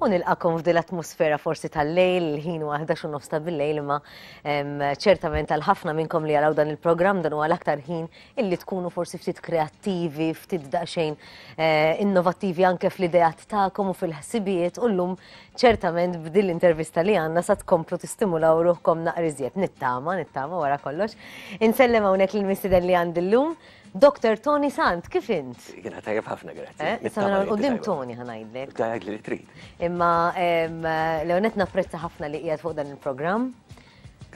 u nilqakom f'dil atmosfera forsi tal-lejl, ħin u għahdax u nofsta bil-lejl, ma ċertament għal ħafna minnkom li għalaw dan il-program dan u għal aktar ħin illi tkunu forsi ftit kreativi, ftit daqxejn eh, innovativi anke fl-idejat ta'kom u fil-ħsibijiet u l-lum ċertament b'dil intervista li għanna sa tkomplu tistimulaw ruħkom naqriżiet nittama, nittama wara kollox. Insellem hawnhekk l-mistiden li għandi l-lum Doctor Tony Sant, kif int? Jiena tajjeb ħafna, grazzi. Eh, issa minn l-qudiem Tony ħa ngħidlek. Tajjeb li trid. Imma Leonet napprezza ħafna li qiegħed fuq dan il-programm.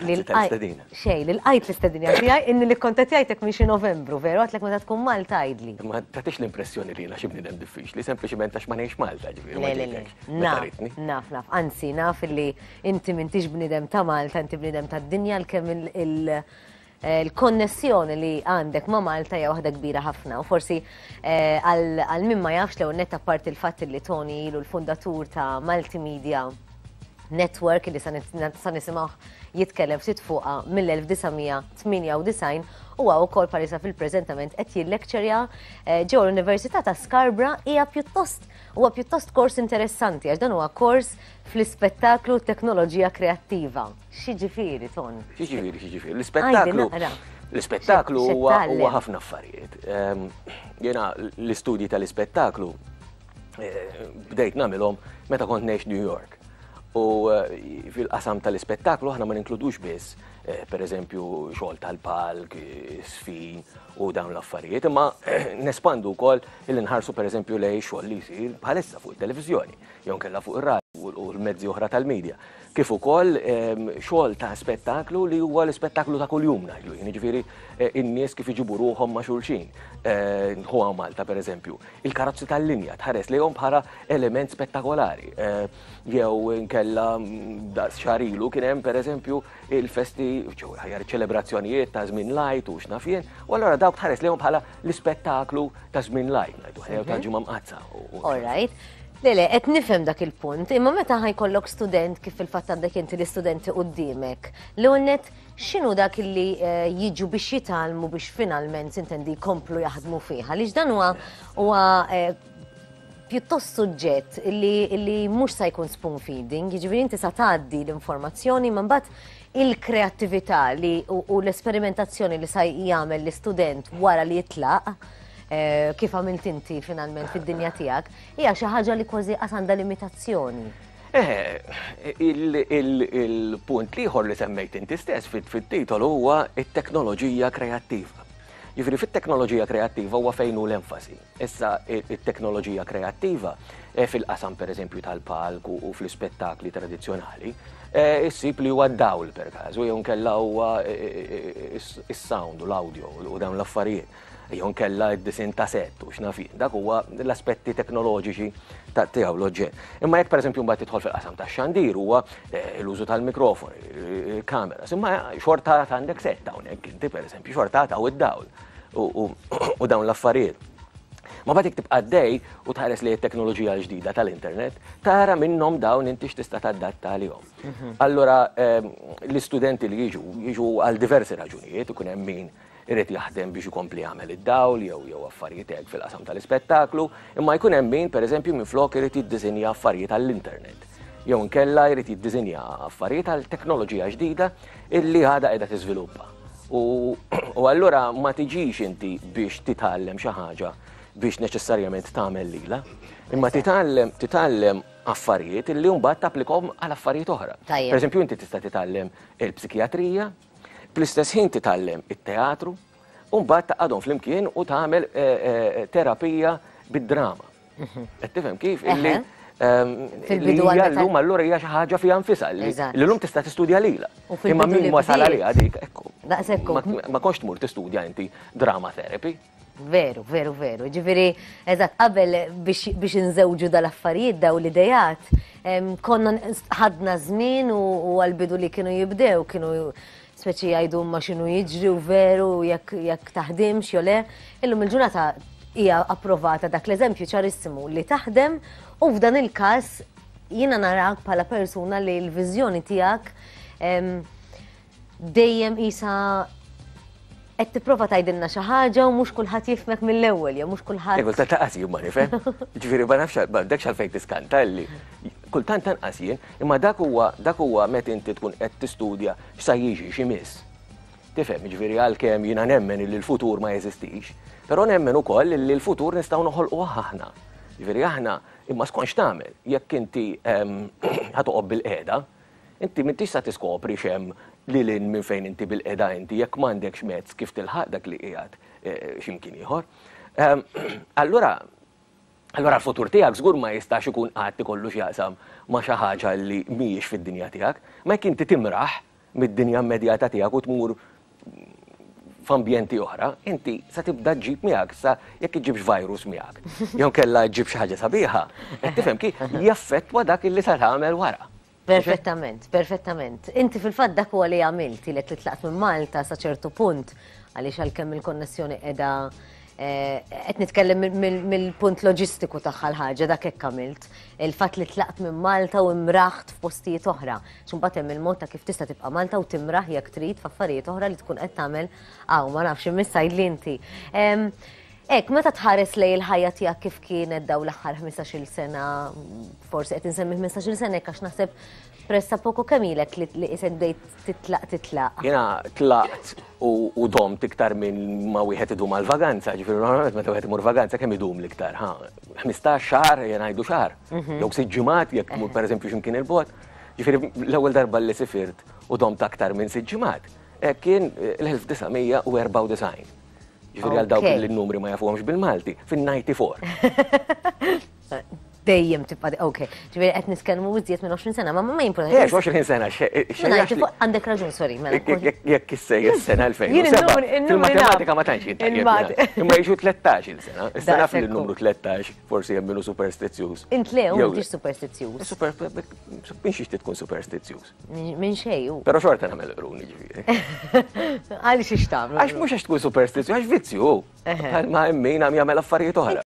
L-istadina. Xej, l-għajt l-istadina tijaj, inni li kontatjajtek minn xi novembru, veru, għatlek meta tkun Malta għajdli. Ma tatix l-impressjoni li jena xibni dem diffiċ, li sempliciment għax ma nejx Malta ġivir. Le, le, le. Naf, naf, anzi, naf li inti minn tix bnidem ta' Malta, inti bnidem ta' dinja l-kem il- Il-konnessjoni li għandek ma' Malta hija waħda kbira ħafna u forsi għal min ma jafx l-ewwel nett apparti l-fatt li Toni ilu l-fundatur ta' Multimedia Network li sa nisimgħuh jitkellem ftit fuqha mill-1998, huwa wkoll palissa fil-preżentament qed jillekċerja ġewwa l-Università ta' Scarborough hija pjuttost huwa pjuttost kors interessanti għax dan huwa kors fl-ispettaklu u t-teknoloġija kreattiva. X'jiġifieri ton? X'jiġifieri, x'jiġifieri? L-ispettaklu. L-ispettaklu huwa ħafna affarijiet. Ehm, jiena l-istudji tal-ispettaklu eh, bdejt nagħmilhom meta kont ngħix New York. U eh, fil-qasam tal-ispettaklu aħna ma ninkludux biss, eh, per eżempju, xogħol tal-palk, sfin u dawn l-affarijiet, imma nespandu wkoll il-nħarsu per eżempju lej xogħol li jsir bħalissa fuq il-televizjoni, jew kella fuq ir-radio u l-mezzi oħra tal-medja. kif ukoll xogħol ta' spettaklu li huwa l-ispettaklu ta' kuljum ngħidlu jien, jiġifieri n-nies kif iġibu ruħhom ma' xulxin. Hu hawn Malta pereżempju, il-karozzi tal-linja tħares lejhom bħala element spettakolari. Jew inkella daqs xahar ilu kien hemm pereżempju l-festi, jew aħjar iċ-ċelebrazzjonijiet ta' żmien l-Għid u x'naf jien, u allura dawk tħares lejhom bħala L-ispettaklu ta' żmien lajk, ngħidu ħajja ta' mhm. ġimgħa mqazza. All right. Lele, qed nifhem dak il-punt, imma meta ħajkollok student kif il-fatt għandek inti l-istudenti qudiemek, li unnet x'inhu dak li eh, jiġu biex jitalmu biex finalment intendi jkomplu jaħdmu fiha, għaliex dan huwa huwa eh, pjuttost suġġett li mhux sa jkun spoon feeding, jiġifieri inti sa tgħaddi l-informazzjoni ma mbagħad il-kreattività li u l-esperimentazzjoni li sa jagħmel l-istudent wara li jitlaq eh, kif għamilt inti finalment fid-dinja tiegħek, hija xi ħaġa li kważi qas għandha limitazzjoni. Eh, il-punt liħor li semmejt inti stess fit-titol huwa it-teknoloġija kreattiva. Jifri fit-teknoloġija kreattiva huwa fejn hu l-enfasi. Issa, it-teknoloġija kreattiva, fil-qasam pereżempju tal-palk u fl-ispettakli tradizzjonali, issib li huwa d-dawl, perkażu, jew inkella huwa s-sound u l-audio u dawn l-affarijiet, jew inkella d-disinn ta' sett u x'naf jien. Dak huwa l-aspetti teknoloġiċi tiegħu l-oġġett. Imma jekk pereżempju mbagħad tidħol fil-qasam tax-xandir huwa l-użu tal-mikrofoni, il-kameras, imma xorta għad għandek sett hawnhekk inti pereżempju, xorta għad hawn id-dawl. u dawn l-affarijiet. Ma batik tibqa' għaddej u tħares li t-teknoloġija l-ġdida tal-internet, tara minnhom dawn inti x'tista' tadatta għalihom. Mhm. Allura ehm, l-istudenti li jiġu, jiġu għal diversi raġunijiet, ikun hemm min irid jaħdem biex ikompli jagħmel id-dawl jew jew affarijiet hekk fil-qasam tal-ispettaklu, imma jkun hemm min pereżempju minflok irid jiddiżinja affarijiet għall-internet. Jew nkella jrid jiddiżinja affarijiet għal teknoloġija ġdida illi għadha qiegħda tiżviluppa. U allura ma tiġix inti biex titgħallem xi ħaġa biex neċessarjament tagħmel lila, imma titgħallem titgħallem affarijiet li mbagħad tapplikom għal affarijiet oħra. Per eżempju, inti tista' titgħallem il-psikijatrija, bl-istess ħin titgħallem it-teatru, u mbagħad taqgħadhom flimkien u tagħmel terapija bid-drama. Qed tifhem kif? Illi fil-bidu għal lum allura hija xi ħaġa fiha nfisha li llum tista' tistudja lila. Imma min wasal għaliha dik ekku. Daqsekku. Ma konx tmur tistudja inti drama therapy. Veru, veru, veru. Ġifieri, eżatt, qabel biex inżewġu dal-affarijiet daw l-idejat, konna ħadna żmien u għal-bidu li kienu jibdew, kienu speċi jgħidu huma x'inhu jiġri u veru jekk jekk taħdimx jew le. Illum il-ġurnata hija approvata dak l-eżempju ċarissimu li taħdem u f'dan il-każ jiena narak bħala persuna li l-viżjoni tiegħek dejjem isa qed tipprova tgħidilna xi ħaġa u mhux kulħadd jifmek mill-ewwel jew mhux kulħadd. Ewwel ta' taqas jumma nifhem. Ġifieri ma nafx m'għandekx għalfejn tiskanta li Kultant anqas jien, imma dak huwa dak huwa meta inti tkun qed tistudja x'sa jiġi, x'imiss. Tifhem, jiġifieri għalkemm jiena nemmen illi l-futur ma jeżistix, però nemmen ukoll illi l-futur nistgħu noħolquh aħna. Jiġifieri aħna, imma skont x'tagħmel, jekk inti ħa toqgħod bil-qiegħda, inti m'intix sa tiskopri x'hemm lil hinn minn fejn inti bil-qiegħda inti jekk m'għandekx mezz kif tilħaq dak li qiegħed xi mkien ieħor. Allura, allura l-futur tiegħek żgur ma jistax ikun qatt ikollu x'jaqsam ma' xi ħaġa li mhijiex fid-dinja tiegħek. Imma jekk inti timraħ mid-dinja immedjata tiegħek u tmur f'ambjenti oħra, inti se tibda ġġib miegħek, sa jekk iġġibx virus miegħek, jew inkella ġġib xi ħaġa sabiħa, qed tifhem kif jaffettwa dak li se tagħmel wara. Perfettament, perfettament. Inti fil-fatt dak huwa li għamilt, ilek li tlaqt minn Malta sa ċertu punt, għaliex għalkemm il-konnessjoni qiegħda eh, qed nitkellem mill- mill- mill-punt loġistiku tagħha l-ħaġa dak hekk għamilt. Il-fatt li tlaqt minn Malta u imraħt f'postijiet oħra. X'imbagħad hemm il-mod ta' kif tista' tibqa' Malta u timraħ jekk trid f'affarijiet oħra li tkun qed tagħmel hawn ma nafx imissa jidli inti. Em, Hekk, meta tħares lejn il-ħajja tiegħek kif kienet daw l-aħħar 15-il sena, forsi qed insemmi 15-il sena hekk għax naħseb pressa poco kemm ilek li isek bdejt titlaq titlaq. Jiena tlaqt u domt iktar minn ma wieħed idum għal vaganza, ġifieri normalment meta wieħed imur vaganza kemm idum l-iktar, ha? 15 xahar jien ngħidu xahar, mhm. jew sitt ġimgħat jekk mur pereżempju x'imkien il-bot. Ġifieri l-ewwel darba li sifirt u domt aktar minn sitt ġimgħat eh, kien eh, l-1994. Ġifieri għal dawk li n-numri ma jafuhomx bil-Malti, fin-94. Dejjem tibqa' ok. Ġifieri qed niskellmu iżjed minn 20 sena, ma ma jimpurta. Jekk 20 sena għandek raġun, sorry. Mela, jekk issej is-sena 2007. Il-matematika ma tantx jintajjeb. Imma jiġu 13 il-sena. Issa naf li n-numru 13 forsi hemm minnu superstizzjuż. Intlew mhux superstizzjuż. Biex ixti tkun superstizzjuż. Minn xej u. Pero xorta namel qruni ġifiri. Għalli xiex tamlu. Għax mux għax tkun superstizju, għax vizzju. Għal ma emmin għam jgħamil affarijiet oħra.